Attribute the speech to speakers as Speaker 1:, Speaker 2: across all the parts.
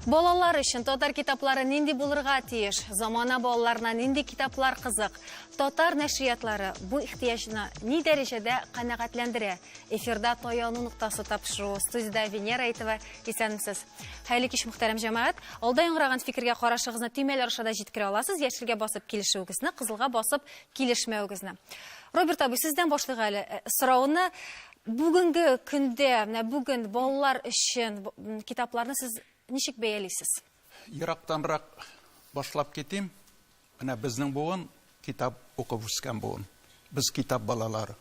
Speaker 1: Балалар өчен татар китаплары нинди булырга тиеш? Замана балаларына нинди китаплар кызык? Татар нәшриятлары бу ихтыяҗны ни дәрәҗәдә канәгатьләндерә? Эфирда таяну ноктасы тапшыру студиядә Венера Әйтова исәнмесез. Хәерле кич, мөхтәрәм җәмәгать. Алда яңгыраган фикергә карашыгызны төймәләр аша да җиткерә аласыз, яшелгә басып килешүегезне, кызылга басып килешмәвегезне. Роберт абый, сездән башлыйк әле э, сорауны. Бүгенге көндә, менә бүген балалар өчен китапларны сез ничек бәялисез? Ерактанрак
Speaker 2: башлап китим. Менә безнең буын, китап укып үскән буын. Без китап балалары.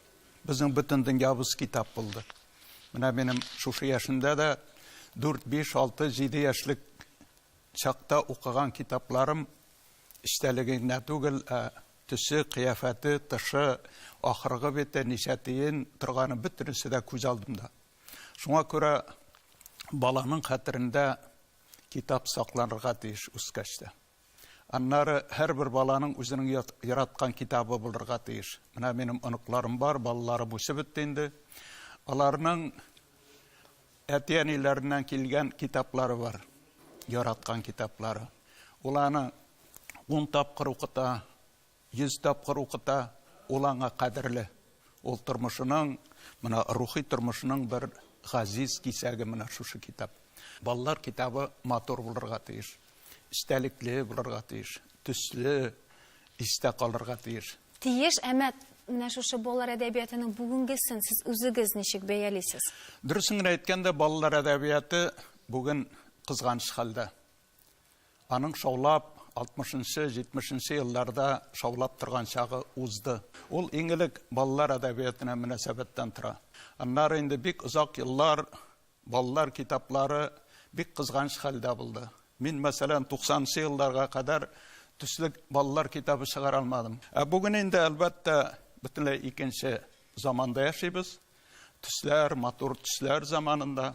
Speaker 2: Безнең бөтен дөньябыз китап булды. Менә минем шушы яшендә дә 4, 5, 6, 7 яшьлек чакта укыган китапларым эчтәлеге генә түгел, ә төсе, кыяфәте, тышы, ахыргы бите, ничә тиен торганы бөтенесе дә күз алдымда. Шуңа күрә баланың хәтерендә китап сакланырга тиеш үскәч тә. Аннары һәрбер баланың үзенең ят, яраткан китабы булырга тиеш. Менә минем оныкларым бар, балаларым үсеп бетте инде. Аларның әти-әниләреннән килгән китаплары бар, яраткан китаплары. Ул аны ун тапкыр укыта, Йөз тапкыр укыта, ул аңа кадерле. Ул тормышының, менә рухи тормышының бер газиз кисәге менә шушы китап. Балалар китабы матур булырга тиеш, эчтәлекле булырга тиеш, төсле, истә калырга тиеш. Тиеш, әмма
Speaker 1: менә шушы балалар әдәбиятының бүгенгесен сез үзегез ничек бәялисез? Дөресен генә
Speaker 2: әйткәндә, балалар әдәбияты бүген кызганыч хәлдә. Аның шаулап, алтмышынчы, җитмешенче елларда шаулап торган чагы узды. Ул иң элек балалар әдәбиятына мөнәсәбәттән тора. Аннары инде бик озак еллар балалар китаплары бик кызганыч хәлдә булды. Мин, мәсәлән, туксанынчы елларга кадәр төсле балалар китабы чыгара алмадым. Ә бүген инде, әлбәттә, бөтенләй икенче заманда яшибез. Төсләр, матур төсләр заманында.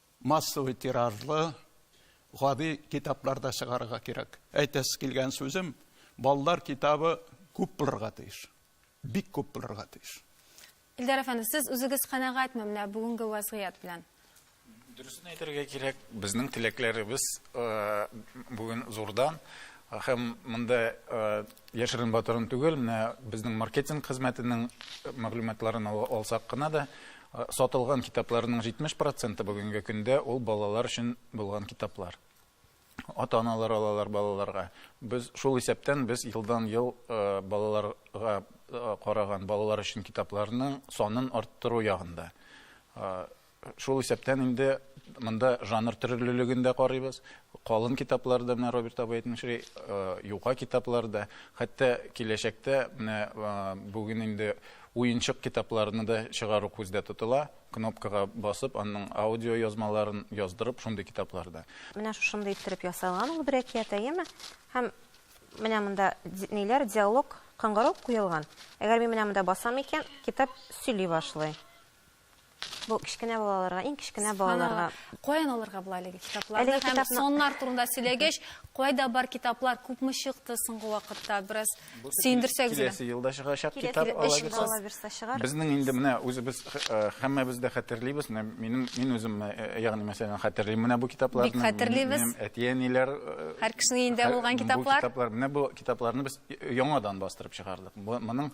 Speaker 2: Массовый тиражлы, гади китаплар да чыгарырга кирәк. Әйтәсе килгән сүзем, балалар китабы күп булырга тиеш. Бик күп булырга тиеш. Илдар әфәнде,
Speaker 1: сез үзегез канәгатьме менә бүгенге вазгыять белән? Дөресен
Speaker 3: әйтергә кирәк, безнең теләкләребез э, бүген зурдан һәм монда э, яшерен батырын түгел, менә безнең маркетинг хезмәтенең мәгълүматларын алсак кына да, Сатылган китапларның 70 проценты бүгенге көндә ул балалар өчен булган китаплар. Ата-аналар алалар балаларга. Без шул исәптән без елдан-ел балаларга караган, балалар өчен китапларның санын арттыру ягында. Шул исәптән инде монда жанр төрлелеген дә карыйбыз. Калын китаплар да, менә Роберт абый әйтмешли, юка китаплар да. Хәтта киләчәктә менә бүген инде Уенчык китапларны да чыгару күздә тотыла, кнопкага басып, аның аудиоязмаларын яздырып, шундый китаплар да. Менә шушындый
Speaker 4: иттереп ясалган ул бер әкият, әйеме? Һәм менә монда ниләр, диалог, кыңгырау куелган. Әгәр мин менә монда басам икән, китап сөйли башлый. Бу кечкенә балаларга, иң кечкенә балаларга. Каян алырга була
Speaker 1: әлеге китапларны? Әлеге китапны... Соннар турында сөйләгәч, кайда бар китаплар, күпме чыкты соңгы вакытта? Бераз сөендерсәгез. Киләсе елда чыгачак
Speaker 3: китап алабызса. Безнең инде менә үзебез һәммәбез дә хәтерлибез. Менә минем мин үзем ягъни мәсәлән хәтерлим менә бу китапларны. Бик хәтерлибез. Минем
Speaker 1: әти-әниләр
Speaker 3: һәр кешенең
Speaker 1: өендә булган китаплар. Бу китаплар, менә бу китапларны
Speaker 3: без яңадан бастырып чыгардык. Моның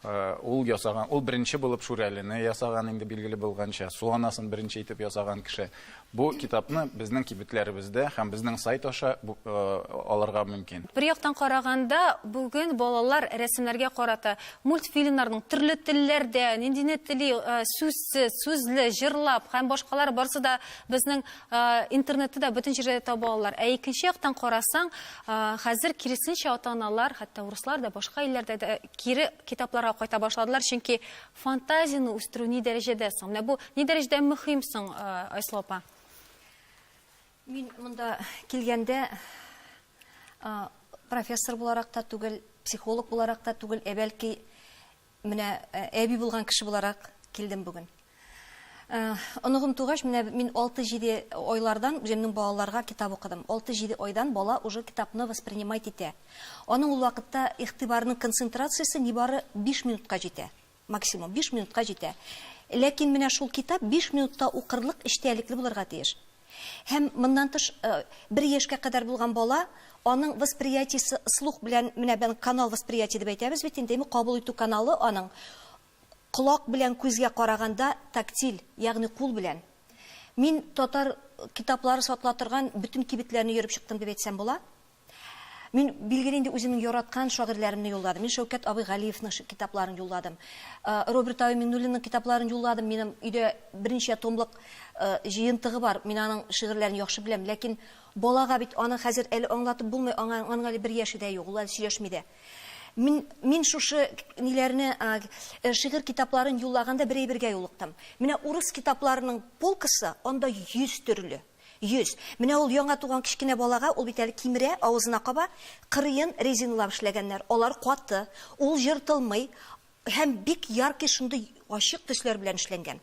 Speaker 3: Ул ясаган, ул беренче булып Шүрәлене ясаган, инде билгеле булганча, Суанасын беренче итеп ясаган кеше. Бу китапны безнең кибетләребездә һәм безнең сайт аша алырга мөмкин. Бер яктан караганда,
Speaker 1: бүген балалар рәсемнәргә карата мультфильмнарның төрле телләрдә, ниндине тели, сүзсез, сүзле, җырлап һәм башкалар барысы да безнең Интернетта да бөтен җирдә дә таба алалар. Ә икенче яктан карасаң, хәзер киресенчә ата-аналар, хәтта урыслар да, башка илләрдә дә кире китапларга кайта башладылар, чөнки фантазияне үстерү ни дәрәҗәдә соң? Менә бу ни дәрәҗәдә мөһим соң, Айсылу апа?
Speaker 5: Мин монда килгәндә профессор буларак та түгел, психолог буларак та түгел, ә бәлки Менә әби булган кеше буларак килдем бүген. Оныгым тугач, менә мин алты-җиде айлардан үземнең балаларга китап укыдым. Алты-җиде айдан бала уже китапны воспринимать итә. Аның ул вакытта игътибарының концентрациясе нибары биш минутка җитә. Максимум биш минутка җитә. Ләкин менә шул китап биш минутта укырлык эчтәлекле булырга тиеш. Һәм, моннан тыш, бер яшькә кадәр булган бала, аның восприятиесе слух белән, менә бен канал восприятия дип әйтәбез бит инде, ме, кабул итү каналы аның колак белән күзгә караганда тактиль, ягъни кул белән. Мин татар китаплары сатыла торган бөтен кибетләрне йөреп чыктым дип әйтсәм була. Мин, билгеле инде, үземнең яраткан шагыйрьләремне юлладым. Мин Шәүкәт абый Галиевның китапларын юлладым. Роберт абый Миңнуллинның китапларын юлладым. Минем өйдә берничә томлык җыентыгы бар. Мин аның шигырьләрен яхшы беләм. Ләкин балага бит аны хәзер әле аңлатып булмый, аңа, аның әле бер яше дә юк, ул әле сөйләшми дә. Мин, мин шушы ниләрне, шигырь китапларын юллаганда бер әйбергә юлыктым. Менә урыс китапларының полкасы, анда йөз төрле. Йөз. Менә ул яңа туган кечкенә балага, ул бит әле кимерә, авызына каба, кырыен резиналап эшләгәннәр, алар каты, ул ертылмый һәм бик яркий шундый ачык төсләр белән эшләнгән.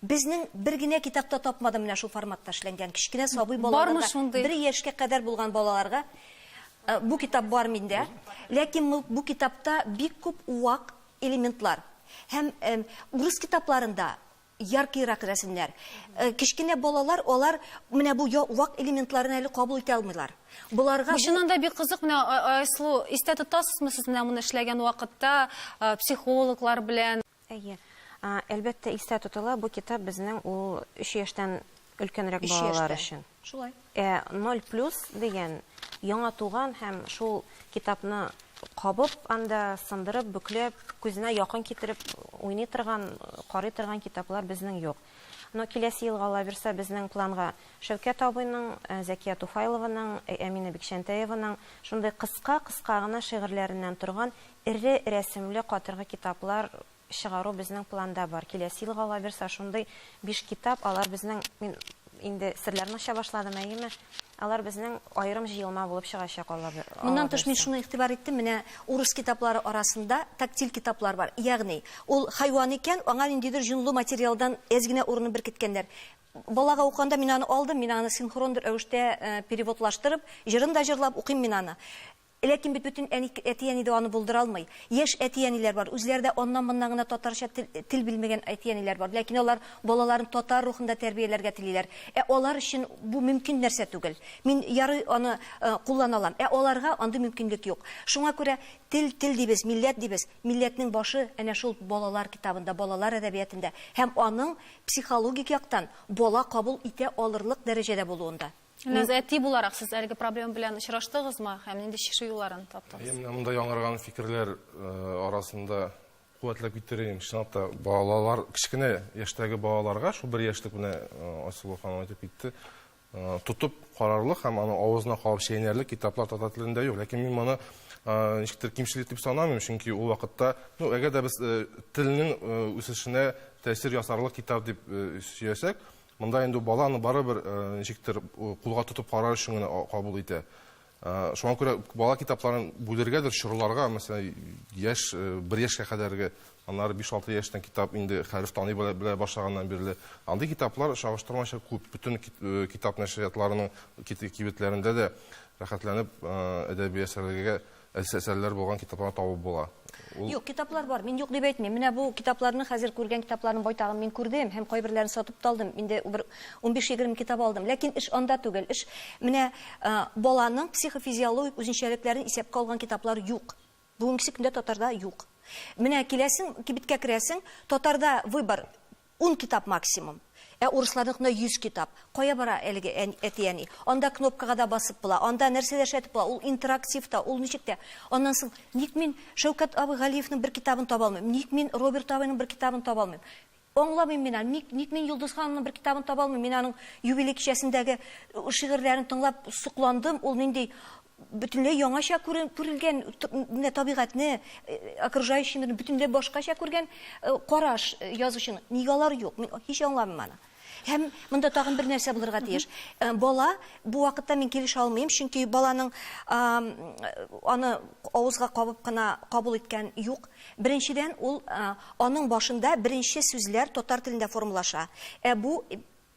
Speaker 5: Безнең бер генә китапта тапмадым менә шул форматта эшләнгән, кечкенә сабый балаларга, бер яшькә кадәр булган балаларга бу китап бар миндә, ләкин бу китапта бик күп вак элементлар һәм урыс китапларында Яркыйрак рәсемнәр. Кечкенә балалар, алар менә бу вак элементларны әле кабул итә алмыйлар. Боларга Бу чыннан да бик кызык.
Speaker 1: Менә Айсылу, истә тотасызмы сез менә моны эшләгән вакытта психологлар белән? Әйе.
Speaker 4: Әлбәттә, истә тотыла. Бу китап безнең ул өч яшьтән өлкәнрәк балалар өчен. Шулай. Ә
Speaker 5: 0 плюс
Speaker 4: дигән яңа туган һәм шул китапны кабып, анда сындырып, бөкләп, күзенә якын китереп уйный торган, карый торган китаплар безнең юк. Но киләсе елга алабирса безнең планга Шәүкәт абыйның, э, Зәкия Туфайлованың, э, Әминә Бикчәнтәеваның шундый кыска-кыска гына шигырьләреннән торган эре рәсемле катыргы китаплар чыгару безнең планда бар. Киләсе елга алабирса шундый биш китап, алар безнең, мин инде серләрне ача башладым, әйеме, алар безнең аерым җыелма булып чыгачак алабир, Моннан тыш мин алабирса. шуны
Speaker 5: игътибар иттем, менә урыс китаплары арасында тактиль китаплар бар, ягъни ул хайван икән, аңа ниндидер җонлы материалдан әз генә урынын беркеткәннәр. Балага укыганда мин аны алдым, мин аны синхрон рәвештә переводлаштырып, җырын да җырлап укыйм мин аны. Ләкин бит бөтен әни, әти-әни дә аны булдыра алмый. Яшь әти-әниләр бар, үзләре дә аннан-моннан гына татарча тел, тел белмәгән әти-әниләр бар, ләкин алар балаларын татар рухында тәрбияләргә телиләр. Ә алар өчен бу мөмкин нәрсә түгел. Мин, ярый, аны куллана алам, ә аларга андый мөмкинлек юк. Шуңа күрә тел, тел дибез, милләт дибез, милләтнең башы әнә шул балалар китабында, балалар әдәбиятында һәм аның психологик яктан бала кабул итә алырлык дәрәҗәдә булуында. Ләз әти буларак
Speaker 1: сез әлеге проблема белән очраштыгызмы һәм нинди чишү юлларын таптыгыз? Менә монда яңарган
Speaker 6: фикерләр э, арасында куәтләп китерим. Чынлап та балалар, кечкенә яшьтәге балаларга, шул бер яшьлек менә э, Айсылу ханым әйтеп китте, э, тотып карарлык һәм аны авызына кабып чәйнәрлек китаплар татар телендә юк. Ләкин мин моны ничектер кимчелек дип санамыйм, чөнки ул вакытта, ну, әгәр дә без телнең үсешенә тәэсир ясарлык китап дип сөясәк, Монда инде баланы барыбер ничектер кулга тотып карар өчен генә кабул итә. Шуңа күрә бала китапларын бүлергәдер, чорларга, мәсәлән, яшь, бер яшькә кадәрге, аннары биш-алты яшьтән китап инде хәреф таный белә башлаганнан бирле. Андый китаплар чагыштырмача күп. Бөтен китап нәшриятларының кибетләрендә дә рәхәтләнеп әдәби әсәрләргә Әсәсәрләр булган китапларны табып була. Ул. Юк, китаплар
Speaker 5: бар, мин юк дип әйтмим. Менә бу китапларны, хәзер күргән китапларның байтагын мин күрдем һәм кайберләрен сатып та алдым. Инде бер унбиш-егерме китап алдым. Ләкин эш анда түгел. Эш менә баланың психофизиологик үзенчәлекләрен исәпкә алган китаплар юк. Бүгенгесе көндә татарда юк. Менә киләсең, кибеткә керәсең, татарда выбор, Ун китап максимум. Ә урысларныкына йөз китап. Кая бара әлеге әти-әни? Анда кнопкага да басып була, анда нәрсә дә эшләтеп була, ул интерактив та, ул ничек тә. Аннан соң, ник мин Шәүкәт абый Галиевның бер китабын таба алмыйм? Ник мин Роберт абыйның бер китабын таба алмыйм? Аңламыйм мин аны, ник, ник мин Йолдыз ханымның бер китабын таба алмыйм? Мин аның юбилей кичәсендәге шигырьләрен тыңлап сокландым, ул нинди бөтенләй яңача күрелгән менә табигатьне, окружающий мирны бөтенләй башкача күргән караш язучының. Нигә алар юк? Мин һич аңламыйм аны. Һәм монда тагын бер нәрсә булырга тиеш. Бала, бу вакытта мин килешә алмыйм, чөнки баланың аны авызга кабып кына кабул иткән юк. Беренчедән, ул аның башында беренче сүзләр татар телендә формалаша. Ә бу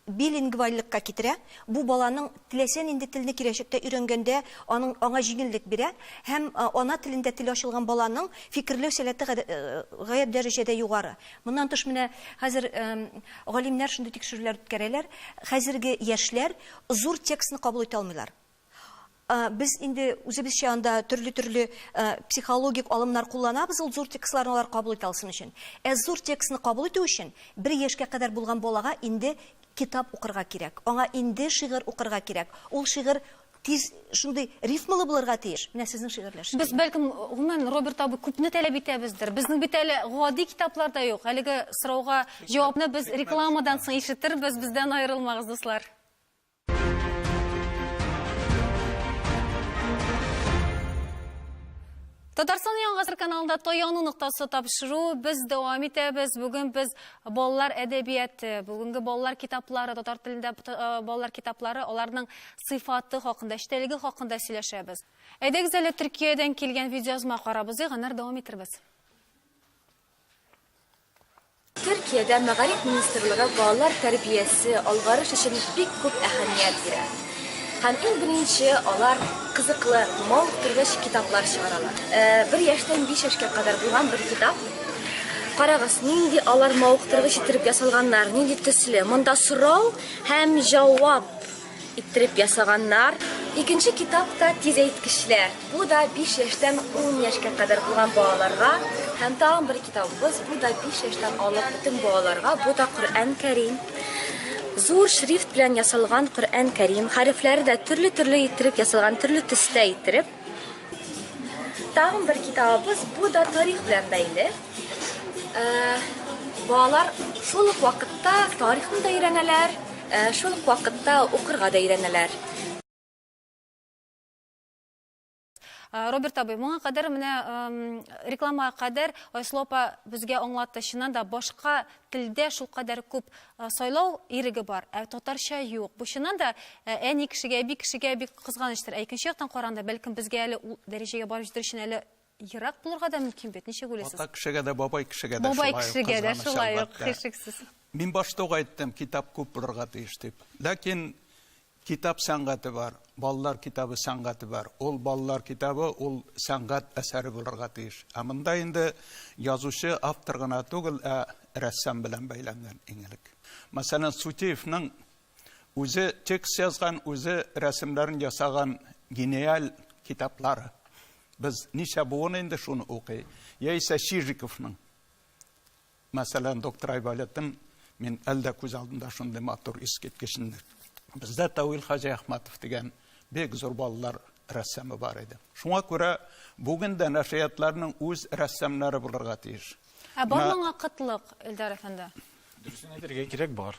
Speaker 5: билингвальлекка китерә, бу баланың теләсә нинди телне киләчәктә өйрәнгәндә аның аңа җиңеллек бирә һәм ана телендә теле ачылган баланың фикерләү сәләте гадә гаять дәрәҗәдә югары. Моннан тыш менә хәзер галимнәр шундый тикшерүләр үткәрәләр, хәзерге яшьләр зур текстны кабул итә алмыйлар. Без инде үзебезчә анда төрле-төрле психологик алымнар кулланабыз ул зур текстларны алар кабул итә алсын өчен. Ә зур текстны кабул итү өчен бер яшькә кадәр булган балага инде китап укырга кирәк, аңа инде шигырь укырга кирәк, ул шигырь тиз шундый рифмалы булырга тиеш. Менә сезнең шигырьләр шикелле. Без, бәлкем,
Speaker 1: гомумән, Роберт абый, күпне таләп итәбездер. Безнең бит әле гади китаплар да юк. Әлеге сорауга җавапны без рекламадан соң ишетербез. Бездән аерылмагыз, дуслар. Татарстан яңгасыр каналында таяну ноктасы тапшыру без дәвам итәбез. Бүген без балалар әдәбияты, бүгенге балалар китаплары, татар телендә э, балалар китаплары, аларның сыйфаты хакында, эчтәлеге хакында сөйләшәбез. Әйдәгез әле Төркиядән килгән видеоязма карабыз, ягънар дәвам итәрбез.
Speaker 7: Төркиядә мәгариф министрлыгы балалар тәрбиясе, алгарыш өчен бик күп әһәмият бирә. Һәм иң беренче алар кызыклы, мавыктыргыч китаплар чыгаралар. Э, бер яшьтән биш яшькә кадәр булган бер китап. Карагыз, нинди алар мавыктыргыч иттереп ясалганнар, нинди төсле. Монда сорау һәм җавап. Иттереп ясаганнар. Икенче китап та Тизәйткечләр. Бу да 5 яшьтән 10 яшькә кадәр булган балаларга. Һәм тагын бер китабыбыз, бу да 5 яшьтән алып бөтен балаларга. Бу да Коръән Кәрим. Зур шрифт белән ясалган Коръән Кәрим. Хәрефләре дә төрле-төрле иттереп ясалган, төрле төстә иттереп. Тагын бер китабыбыз, бу да тарих белән бәйле. Балалар шул ук вакытта тарихны да өйрәнәләр, шул ук вакытта укырга да өйрәнәләр.
Speaker 1: Роберт абый, моңа кадәр менә реклама кадәр Айслопа безгә аңлатты. Чыннан да башка Телдә шулкадәр күп сайлау иреге бар, ә татарча юк. Бу чыннан да әни кешегә, әби кешегә бик кызганычтыр. Ә икенче яктан караганда, бәлкем безгә әле ул дәрәҗәгә барып җитәр өчен әле ерак булырга да мөмкин бит. Ничек уйлыйсыз? Ата кешегә дә, бабай
Speaker 2: кешегә дә шулай ук кызганыч, әлбәттә.
Speaker 1: Бабай кешегә дә шулай ук, һичшиксез. Мин башта ук
Speaker 2: әйттем, китап күп булырга тиеш дип. Ләкин Китап сәнгате бар, балалар китабы сәнгате бар. Ул балалар китабы, ул сәнгать әсәре булырга тиеш. Ә монда инде язучы, автор гына түгел, ә рәссам белән бәйләнгән иң элек. Мәсәлән, Сутеевның үзе текст язган, үзе рәсемнәрен ясаган гениаль китаплары. Без ничә буын инде шуны укый. Яисә Чижиковның Мәсәлән, доктор Айболытым, мин әле дә күз алдымда шундый матур, искиткеч инде. Бездә Тәүил хаҗи Әхмәтов дигән бик зур балалар рәссамы бар иде. Шуңа күрә бүген дә нәшриятларның үз рәссамнары булырга тиеш. Ә бар моңа
Speaker 1: кытлык, Эльдар әфәнде? Дөресен әйтергә
Speaker 3: кирәк, бар.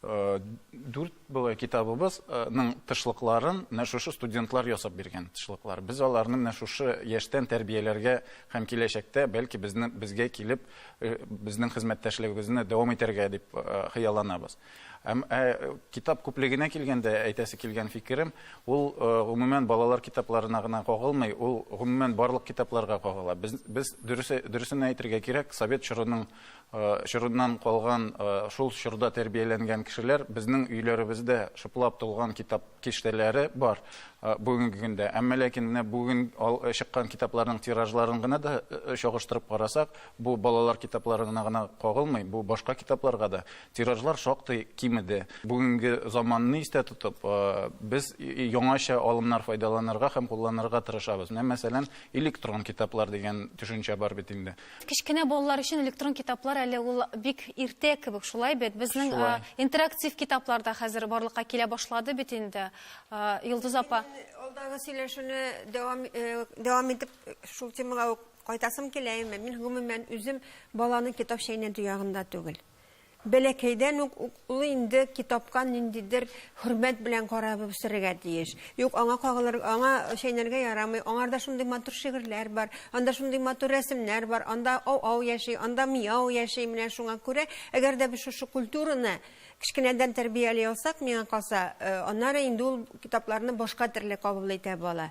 Speaker 3: Э, дүрт былай китабыбызның э, тышлыкларын менә шушы студентлар ясап биргән тышлыклар без аларны менә шушы яшьтән тәрбияләргә һәм киләчәктә бәлки безне безгә килеп э, безнең хезмәттәшлегебезне дәвам итәргә дип хыялланабыз һәм китап күплегенә килгәндә әйтәсе килгән фикерем ул гомумән балалар китапларына гына кагылмый ул гомумән барлык китапларга кагыла без без дөресен әйтергә кирәк совет чорының Чорыннан калган шул чорда тәрбияләнгән кешеләр безнең өйләребездә шыплап тулган китап киштәләре бар бүгенге көндә. Әмма ләкин менә бүген чыккан китапларның тиражларын гына да чагыштырып карасак, бу балалар китапларына гына кагылмый, бу башка китапларга да тиражлар шактый кимеде. Бүгенге заманны истә тотып, без яңача алымнар файдаланырга һәм кулланырга тырышабыз. Менә мәсәлән, электрон китаплар дигән төшенчә бар бит инде. Кечкенә балалар өчен
Speaker 1: электрон китаплар әле ул бик иртә кебек, шулай бит. Безнең Шулай. э, интерактив китаплар да хәзер барлыкка килә башлады бит инде. Э, Йолдыз апа, Мин алдагы сөйләшүне
Speaker 8: дәвам э, дәвам итеп э, шул темага ук кайтасым килә, әмма мин гомумән үзем баланы китап чәйнәтү ягында түгел. Бәләкәйдән үк ул инде китапка ниндидер хөрмәт белән карап үсәргә тиеш. Юк, аңа кагылыр, аңа чәйнәргә ярамый, аңарда шундый матур шигырьләр бар, анда шундый матур рәсемнәр бар, анда ау-ау яши, анда мияу яши, менә шуңа күрә, әгәр дә без шушы культураны кечкенәдән тәрбияли алсак, миңа калса, аннары инде ул китапларны башка төрле кабул итә бала.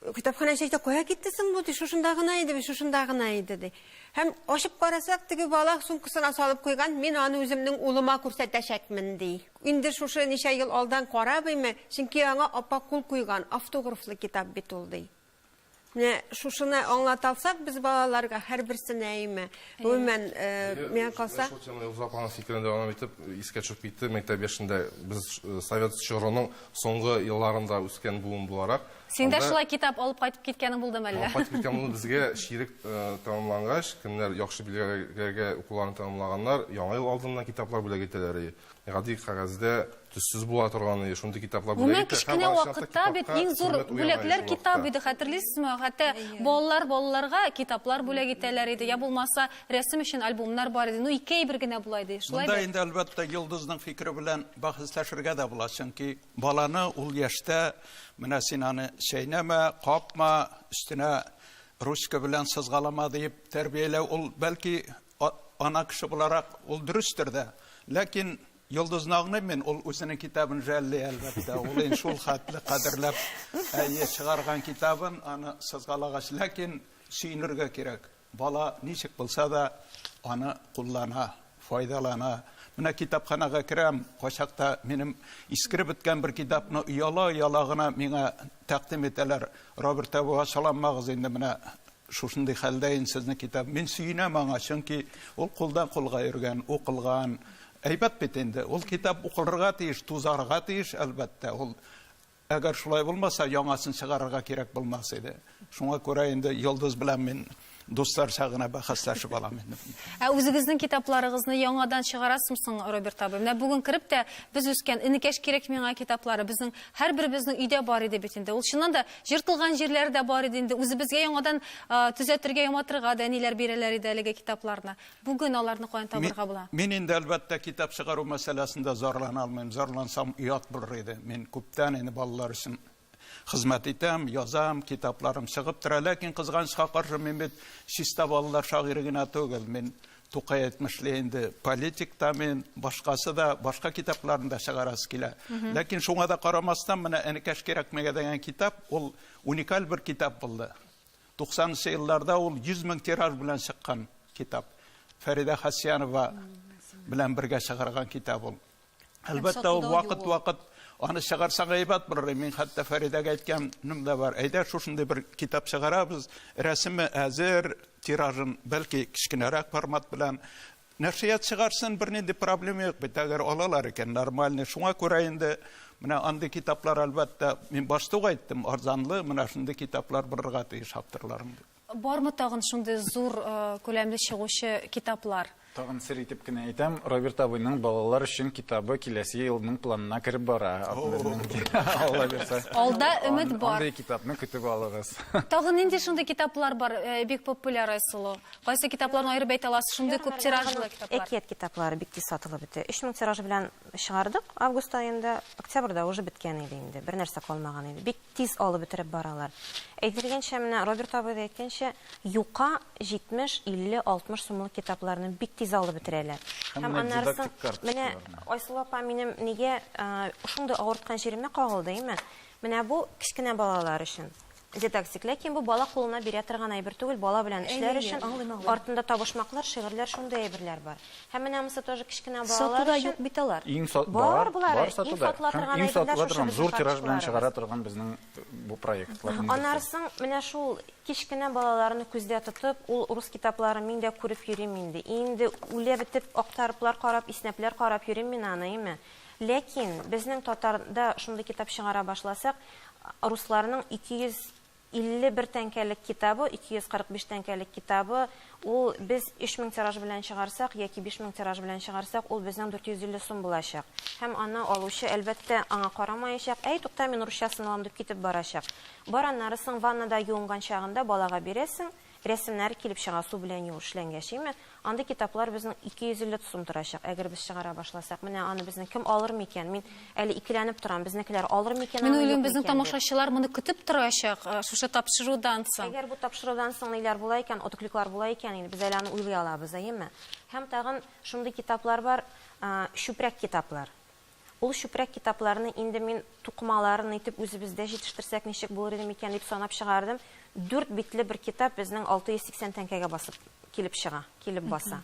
Speaker 8: Китапханәче әйтә, кая китте соң бу, ди, шушында гына иде бит, шушында гына иде, ди. Һәм ачып карасак, теге бала сумкасына салып куйган, мин аны үземнең улыма күрсәтәчәкмен, ди. Инде шушы ничә ел алдан карабыймы, чөнки аңа апа кул куйган, автографлы китап бит ул, ди. Менә шушыны аңлата алсак без балаларга, һәрберсенә әйме, гомумән, миңа калса. Шул теманы Илзур апаның фикерен
Speaker 6: дәвам итеп, искә төшеп китте, мәктәп яшендә без Совет чорының Соңгы елларында үскән буын буларак. Син дә шулай китап
Speaker 1: алып кайтып киткәнең булдымы әллә? Алып кайтып киткән булды. Безгә
Speaker 6: чирек э, тәмамлангач, кемнәр яхшы билгеләргә укуларын тәмамлаганнар, яңа ел алдыннан китаплар бүләк итәләр. Гади кәгазьдә төссез була торган, шундый китаплар бүләк итә. Кечкенә вакытта бит
Speaker 1: иң зур бүләкләр китап иде, хәтерлисезме? Хәтта балалар балаларга китаплар бүләк итәләр иде, я булмаса рәсем өчен альбомнар бар иде. Ну, ике әйбер генә була иде. Шулай Монда инде, әлбәттә,
Speaker 2: Йолдызның фикере белән Бәхәсләшергә дә була, чөнки баланы ул яшьтә менә син аны чәйнәмә, капма, өстенә ручка белән сызгалама диеп тәрбияләү, ул бәлки ана кеше буларак ул дөрестер дә. Ләкин Йолдызны аңлыйм мин, ул үзенең китабын жәлли, әлбәттә. Ул инде шул хәтле кадерләп, әйе, чыгарган китабын, аны сызгалагач, ләкин сөенергә кирәк. Бала ничек булса да аны куллана, файдалана. Менә китапханага керәм, качакта минем искереп беткән бер китапны ояла-ояла гына миңа тәкъдим итәләр. Роберт әбү ачаламагыз инде менә шушындый хәлдә инде сезнең китап. Мин сөенәм аңа, чөнки ул кулдан кулга йөргән, укылган. Әйбәт бит инде. Ул китап укылырга тиеш, тузарга тиеш, әлбәттә. Ул Әгәр шулай булмаса, яңасын чыгарырга кирәк булмас иде. Шуңа күрә инде Йолдыз белән мин дусларча гына бәхәсләшеп алам инде. Ә үзегезнең
Speaker 1: китапларыгызны яңадан чыгарасызмы соң, Роберт абый? Менә бүген кереп тә, без үскән Энекәш кирәк миңа китаплары безнең һәрберебезнең өйдә бар иде бит инде. Ул чыннан да җыртылган җирләре дә бар иде инде. Үзебезгә яңадан төзәтергә, яматырга да әниләр бирәләр иде әлеге китапларны. Бүген аларны каян табарга була? Мин инде, әлбәттә,
Speaker 2: китап чыгару мәсьәләсендә зарлана алмыйм. Зарлансам, оят булыр иде. Мин күптән инде балалар өчен хезмәт итәм, язам, китапларым чыгып тора. Ләкин, кызганычка каршы, мин бит чиста балалар шагыйре генә түгел. Мин Тукай әйтмешли инде, политик та мин, башкасы да, башка китапларны да чыгарасы килә. Ләкин шуңа да карамастан, менә Энекәш кирәкмәгә дигән китап, ул уникаль бер китап булды. Туксанынчы елларда ул 100 мең тираж белән чыккан китап. Фәридә Хасянова белән бергә чыгарган китап ул. Әлбәттә, ул вакыт-вакыт аны чыгарсаң әйбәт булыр. Мин хәтта Фәридәгә әйткәнем дә бар. Әйдә, шушындый бер китап чыгарабыз. Рәсеме әзер, тиражын бәлки кечкенәрәк формат белән Нәшрият чыгарсын, бернинди проблема юк бит, әгәр алалар икән, нормальный. Шуңа күрә инде менә андый китаплар, әлбәттә, мин башта ук әйттем, арзанлы, менә шундый китаплар булырга тиеш авторларның
Speaker 1: дип. Бармы тагын шундый зур күләмле чыгучы китаплар? Тагын
Speaker 3: сер итеп кенә әйтәм, Роберт абыйның балалар өчен китабы киләсе елның планына кереп бара. Алла бирсә. Алда өмет
Speaker 1: бар. Андый китапны көтеп
Speaker 3: алыгыз. Тагын нинди шундый
Speaker 1: китаплар бар, бик популяр, Айсылу? Кайсы китапларны аерып әйтә аласыз? Шундый күп тиражлы китаплар. Әкият китаплары бик тиз
Speaker 4: сатылып бетә. Өч мең тираж белән чыгардык август аенда. Октябрьдә уже беткән иде инде, бернәрсә калмаган иде. Бик тиз алып бетереп баралар. Әйтелгәнчә, менә Роберт абый да әйткәнчә, юка 70, 50, 60 сумлык китапларны бик тиз алып бетерәләр. Һәм аннарысын, менә Айсылу апа минем нигә шундый авырткан җиремә кагылды име, менә бу кечкенә балалар өчен. Җитәкчек, ләкин бу бала кулына бирә торган әйбер түгел, бала белән эшләр өчен артында табышмаклар, шигырьләр, шундый әйберләр бар. Һәм менә монысы тоже кечкенә балалар өчен. Сатуда юк бит алар.
Speaker 5: Бар, бар
Speaker 4: сатуда.
Speaker 3: Һәм иң сатыла торган, зур тираж белән чыгара торган безнең бу проектларның берсе. Аннары соң менә
Speaker 4: шул кечкенә балаларны күздә тотып, ул рус китапларын мин дә күреп йөрим инде. Инде үлә бетеп актарыплар карап, иснәпләр карап йөрим мин аны, име. Ләкин безнең татарда шундый китап чыгара башласак, Русларның 251 тәңкәлек китабы, 245 тәңкәлек китабы, ул без 3000 тираж белән чыгарсак, яки 5000 тираж белән чыгарсак, ул безнең 450 сум булачак. Һәм аны алучы, әлбәттә, аңа карамаячак, Әй, тукта, мин русчасын алам, дип китеп барачак. Бар, аннары соң ваннада юынган чагында балага бирәсең, Рәсемнәр килеп чыга су белән юу эшләнгәч, име? Андый китаплар безнең 250 сум торачак, әгәр без чыгара башласак. Менә аны безнең кем алыр микән? Мин әле икеләнеп торам, безнекеләр алыр микән аны, юк микән дип. Мин уйлыйм, безнең тамашачылар
Speaker 1: моны көтеп торачак, шушы тапшырудан соң. Әгәр бу тапшырудан соң
Speaker 4: ниләр була икән, отыклыклар була икән, инде без әле аны уйлый алабыз, әйеме? Һәм тагын шундый китаплар бар, чүпрәк китаплар. Ул чүпрәк китапларны инде мин тукымаларын итеп үзебездә җитештерсәк ничек булыр иде микән дип санап чыгардым. Дүрт битле бер китап безнең 680 тәңкәгә басып килеп чыга, килеп баса.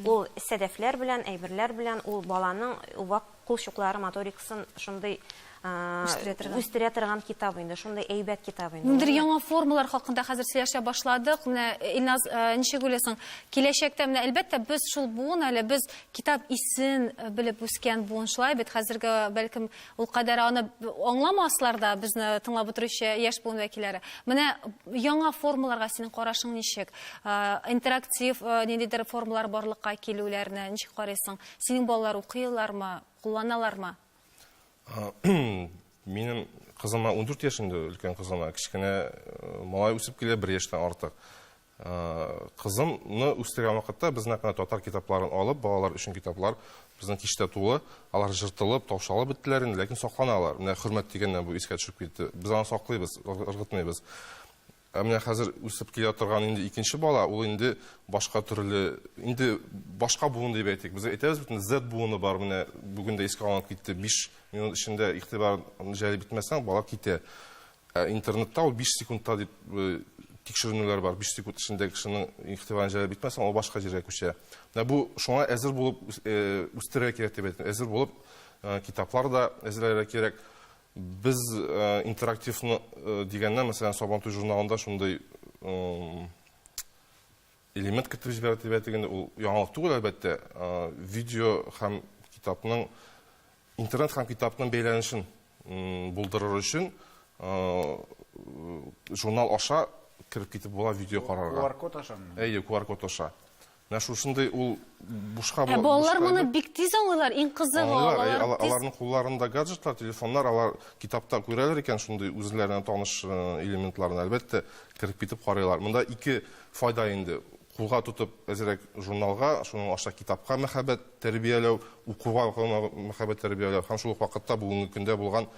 Speaker 4: Ул сәдәфләр белән, әйберләр белән, ул баланың вак кул чуклары моторикасын шундый үстерә торган китап инде, шундый әйбәт китап инде. Ниндидер яңа формалар
Speaker 1: хакында хәзер сөйләшә башладык. Менә Илназ, ничек уйлыйсың, киләчәктә, менә әлбәттә, без шул буын әле, без Китап исен белеп үскән буын шулай бит. Хәзерге, бәлкем, ул кадәр аны аңламаслар да безне тыңлап утыручы яшь буын вәкилләре. Менә яңа формаларга синең карашың ничек? Интерактив ниндидер формалар барлыкка килүләрне ничек карыйсың? Синең балалар укыйлармы, кулланалармы?
Speaker 6: Минем кызыма 14 яшендә, өлкән кызына, кечкенә малай үсеп килә, бер яшьтән артык. Кызымны үстергән вакытта без нәкъ менә татар китапларын алып, балалар өчен китаплар безнең киштә тулы. Алар жыртылып, таушалып беттеләр инде, ләкин сакланалар. Менә хөрмәт дигәннән бу искә төшеп китте. Без аны саклыйбыз, ыргытмыйбыз. Ә менә хәзер үсеп килә торган инде икенче бала, ул инде башка төрле, инде башка буын дип әйтик. Без әйтәбез бит, Z буыны бар, менә бүген дә искә алынып китте. Биш минут эчендә игътибар җәлеп итмәсәң, бала китә. Ә интернетта ул 5 секундта дип тикшеренүләр бар. 5 секунд эчендә кешенең игътибарын җәлеп итмәсәң, ул башка җиргә күчә. Менә бу шуңа әзер булып үстерергә кирәк дип әйтәм. Әзер булып китаплар да әзерләргә кирәк. Без интерактивны дигәннән, мәсәлән, Сабантуй журналында шундый элемент кертеп җибәрә дип әйтик инде, ул яңалык түгел, әлбәттә. Видео һәм китапның, интернет һәм китапның бәйләнешен булдырыр өчен журнал аша кереп китеп була видео карарга. QR-код ашамы? Әйе,
Speaker 3: QR-код аша.
Speaker 6: Менә шушындый ул бушка була. Ә балалар моны бик тиз
Speaker 1: аңлыйлар, иң кызыгы алар. Алар, аларның
Speaker 6: кулларында гаджетлар, телефоннар, алар китапта күрәләр икән шундый үзләренә таныш элементларны, әлбәттә, кереп китеп карыйлар. Монда ике Файда инде, кулга тотып әзрәк журналга, шуның аша китапка мәхәббәт тәрбияләү, укуга мәхәббәт тәрбияләү һәм шул ук вакытта бүгенге көндә булган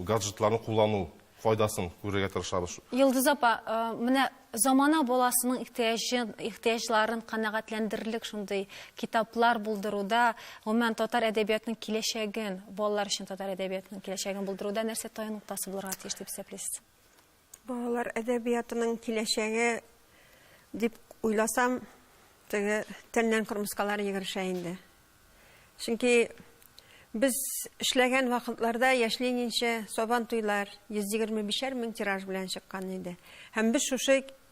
Speaker 6: гаджетларны куллану файдасын күрергә тырышабыз. Йолдыз апа,
Speaker 1: менә замана баласының ихтыяҗын, ихтыяҗларын канәгатьләндерерлек шундый китаплар булдыруда, гомумән татар әдәбиятының киләчәген, балалар өчен татар әдәбиятының киләчәген булдыруда нәрсә таянык тасы булырга тиеш дип исәплисез? Балалар
Speaker 8: әдәбиятының киләчәге дип уйласам, теге тәннән кырмыскалар егерешә инде. Чөнки без эшләгән вакытларда яшьлегенчә Сабан туйлар 125 мең тираж белән чыккан иде. Һәм без шушы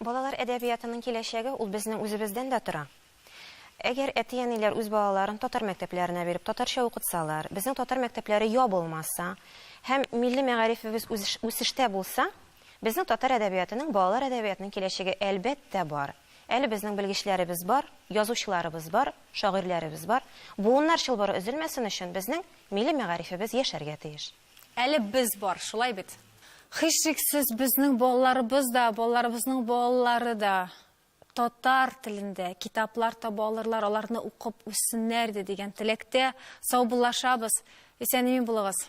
Speaker 4: Балалар әдәбиятының киләчәге ул безнең үзебездән дә тора. Әгәр әти-әниләр үз балаларын татар мәктәпләренә биреп, татарча укытсалар, безнең татар мәктәпләре ябылмаса һәм милли мәгарифебез үсештә булса, безнең татар әдәбиятының, балалар әдәбиятының киләчәге, әлбәттә, бар. Әле безнең белгечләребез бар, язучыларыбыз бар, шагыйрьләребез бар. Буыннар чылбыры өзелмәсен өчен безнең милли мәгарифебез яшәргә тиеш. Әле без
Speaker 1: бар, шулай бит? Һичшиксез, безнең балаларыбыз да, балаларыбызның балалары да татар телендә китаплар таба алырлар, аларны укып үссеннәр иде дигән теләктә. Саубуллашабыз. Исән-имин булыгыз.